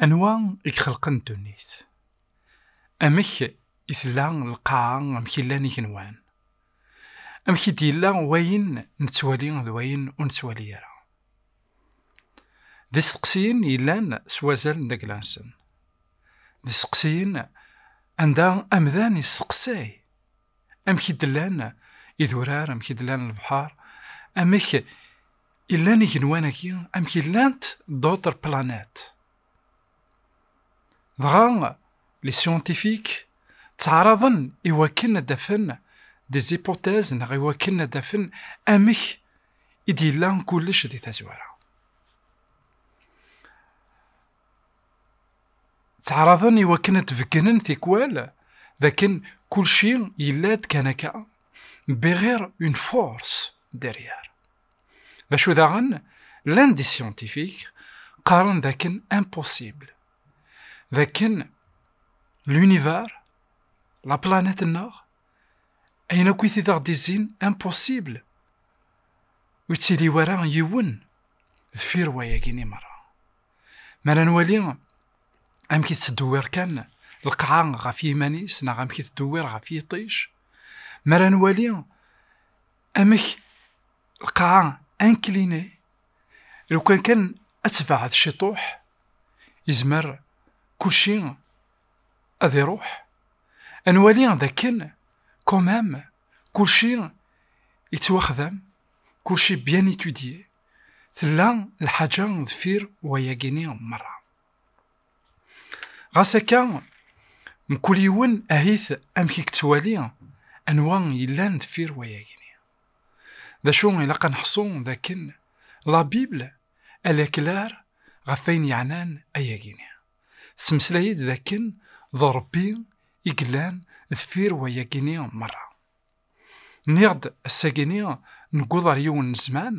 Anwa i ixelqen ddunit? Amek i tella lqaɛa, amek i llan igenwan? Amek i d-yella wayen nettwali d wayen ur nettwali ara? D isteqsiyen yellan s wazal n dagla-nsen. D isteqsiyen anda amdan yesteqsay. amek i d-llan idurar, amek i d-llan lebḥar, amek i llan igenwan-agi, amek i llant d'autres planètes. Dɣa, les scientifiques ttɛaraḍen i wakken ad d-afen des hypothèses neɣ i wakken ad d-afen amek i d-yella kullec di tazwara. ttɛaraḍen i wakken ad tbeggnen tikwal dakken kulci yella-d kan akka bixir une force derrière d acu daɣen llan di scientifique qqaren dakken impossible dakken l'univers la planète nneɣ ayen akk i t-id aɣ-d-izzin impossible ur ttili wara yiwen deffir wayagi ni merra mi ara nwali amek i tettdewwir kan lqaɛa ɣef yiman-is neɣ amek i tettdewwir ɣef yiṭij mi ara nwali amek lqaɛa ankline lukan kan ad tebɛed ciṭuḥ izmer kulci ad iruḥ ad nwali d akken quand même kulci yettwaxdam kulci bien étudié Tella lḥaǧa deffir wayagi-ni merra. Ɣas akka, mkul yiwen ahit amek i yettwali anwa yellan deffir wayagi-ni. D acu ilaq ad neḥṣu d akken la Bible elle est claire ɣef ayen yeɛnan ayagi-ni. Tettmeslay-d d akken d Rebbi i yellan deffir wayagi-ni merra. Nniɣ-d ass-agi-ni newweḍ ar yiwen n zzman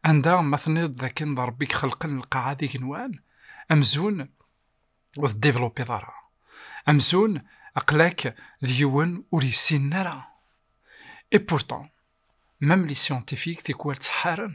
anda ma tenniḍ d akken d Rebbi i ixelqen lqaɛa d igenwan, amzun ur t-developpeḍ ara. Amzun aql-ak d yiwen ur yessinen ara. Et pourtant, même les scientifiques tikwal ttḥaren.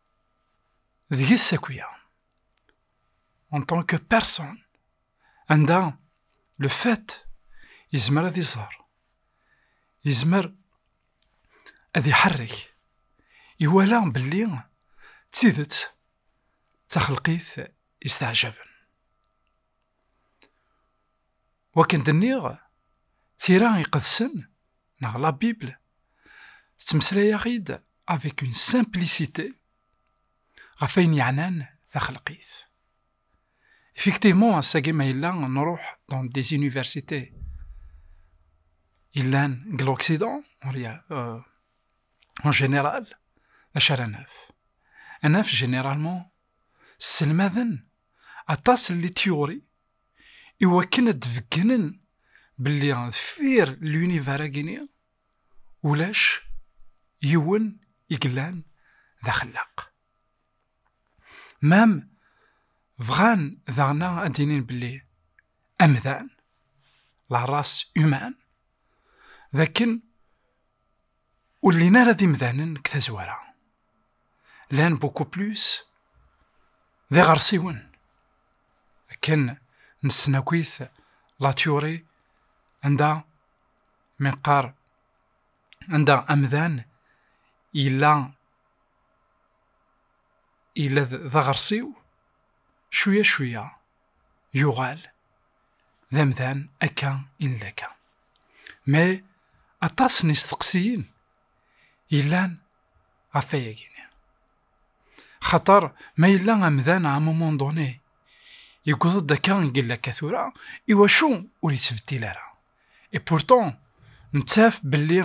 deg-s akya en tant que personne anda le fait yezmer ad iẓer yezmer ad iḥerrek iwala belli d tidet d taxelqit isteɛjaben Wakken d-nniɣ, tira iqedsen, neɣ la Bible, tettmeslay-aɣ-id avec une simplicité ɣef ayen yeɛnan taxelqit. Effectivement, ass-agi ma yella nruḥ dans des universités yellan deg l'Occident, euh, en général, d acu ara naf? Anaf généralement sselmaden aṭas n litiyuri i wakken ad d-beggnen belli deffir lyunivar-agi-ni ulac yiwen i yellan d axellaq. Mem bɣan daɣen ad d-inin belli amdan, la race humaine, d akken Ur llin ara d imdanen deg tazwara. Llan beaucoup plus d iɣersiwen. Akken nessen akit la théorie anda mi nqar anda amdan yella yella d aɣersiw cwiya cwiya yuɣal d amdan akka i nella akka. Mais aṭas n isteqsiyen yellan ɣef ayagi-nni. Xaṭer ma yella amdan à un moment donné yewweḍ-d akka i yella akka tura, iwacu ur yettbeddil ara? Et pourtant nettaf belli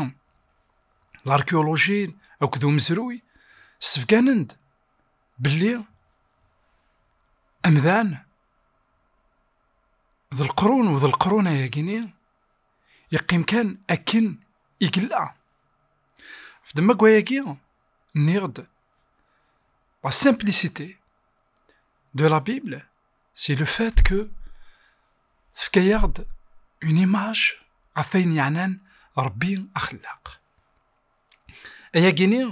l'archéologie akked umezruy ssebganen-d belli amdan d lqrun u d lqrun ayagini yeqqim kan akken i yella f demma gwayagi nniɣ-d la simplicité de la Bible c'est le fait que tefka-yaɣ-d une image ɣef ayen yeɛnan Rebbi axellaq ayagini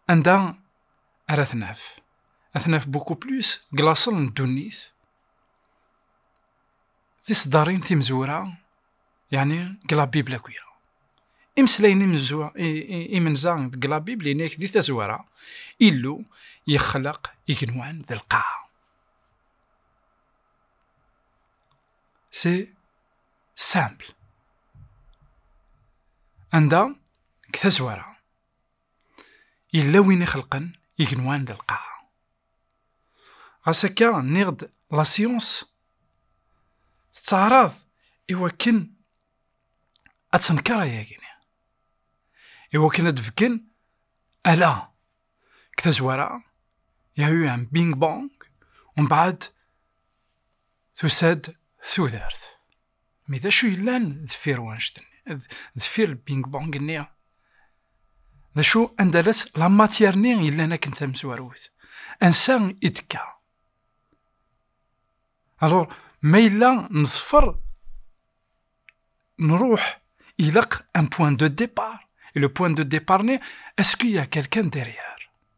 anda ara t-naf. Ad t-naf beaucoup plus deg laṣel n ddunit. Tiseddarin timezwura, yeɛni deg la Bible akya. Imeslayen imenza deg la Bible ini-ak di tazwara, Illu yexleq igenwan d lqaɛa. C'est simple. Anda, deg tazwara, Yella win ixelqen igenwan d lqaɛa. Ɣas akka, nniɣ-d la science tettaɛraḍ i wakken ad tenker ayagi-nni. I wakken ad d-fken ala deg tazwara, il y a eu un bing bang, mbeɛd tusa-d tudert. Mi d acu yellan deffir wanect-nni, deffir le ping pong-nni? D acu anda la-tt la matière-nni yellan akken tamezwarut? Ansa i d-tekka? Alors, ma yella neḍfer, nruḥ, ilaq un point de départ. Et le point de départ-nni, est-ce qu'il y a quelqu'un derrière?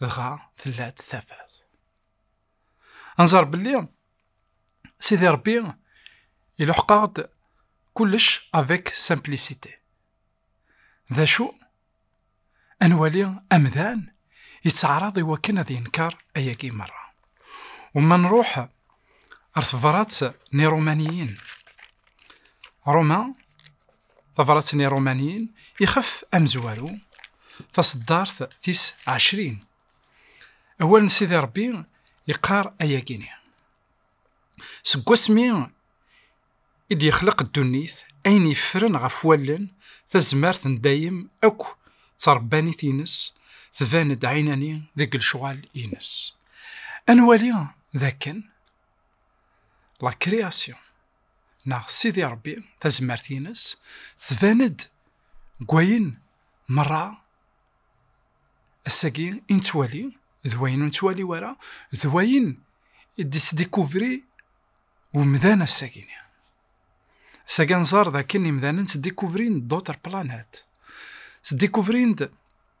dɣa tella-d tafat. Anẓar belli Sidi Rebbi iluḥeq-aɣ-d kullec avec simplicité. D acu? Ad nwali amdan yettɛaraḍ i wakken ad yenker ayagi merra. U ma nruḥ ar tebrat n Irumaniyen, Roma Tabrat n Irumaniyen ixef amezwaru, taṣeddart tis ɛecrin. Awal n Sidi Ṛebbi yeqqar ayagi-ni. Seg wasmi i d-yexleq ddunit, ayen yeffren ɣef wallen, tazmert n dayem akk d tṛebbanit-ines, tban-d ɛinani deg lecɣal-ines. Ad nwali d akken, la création, neɣ Sidi Ṛebbi tazmert-ines tban-d deg wayen meṛṛa ass-agi i nettwali d wayen ur nettwali wara, d wayen i d-yettdikuvri umdan ass-agi-nni. Ass-agi ad nẓer d akken imdanen ttdikuvrin-d d'autres planètes, ttdikuvrin-d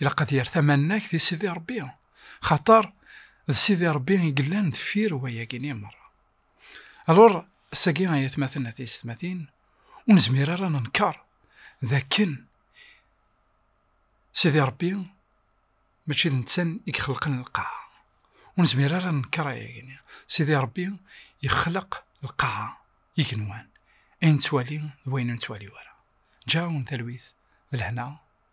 ilaq ad yerr tamannagt i Sidi Ṛebbi, xaṭer d Sidi Ṛebbi i yellan deffir wayagi-nni merra. Alur, ass-agi ay atmaten at yessetmatin, ur nezmir ara ad nenkeṛ d akken Sidi Ṛebbi mačči d netta i ixelqen lqaɛa. Ur nezmir ara ad nenkeṛ ayagi-nni. Sidi Ṛebbi ixleq lqaɛa, igenwan, ayen nettwali d wayen ur nettwali ara. Ǧǧa-awen talwit d lehna.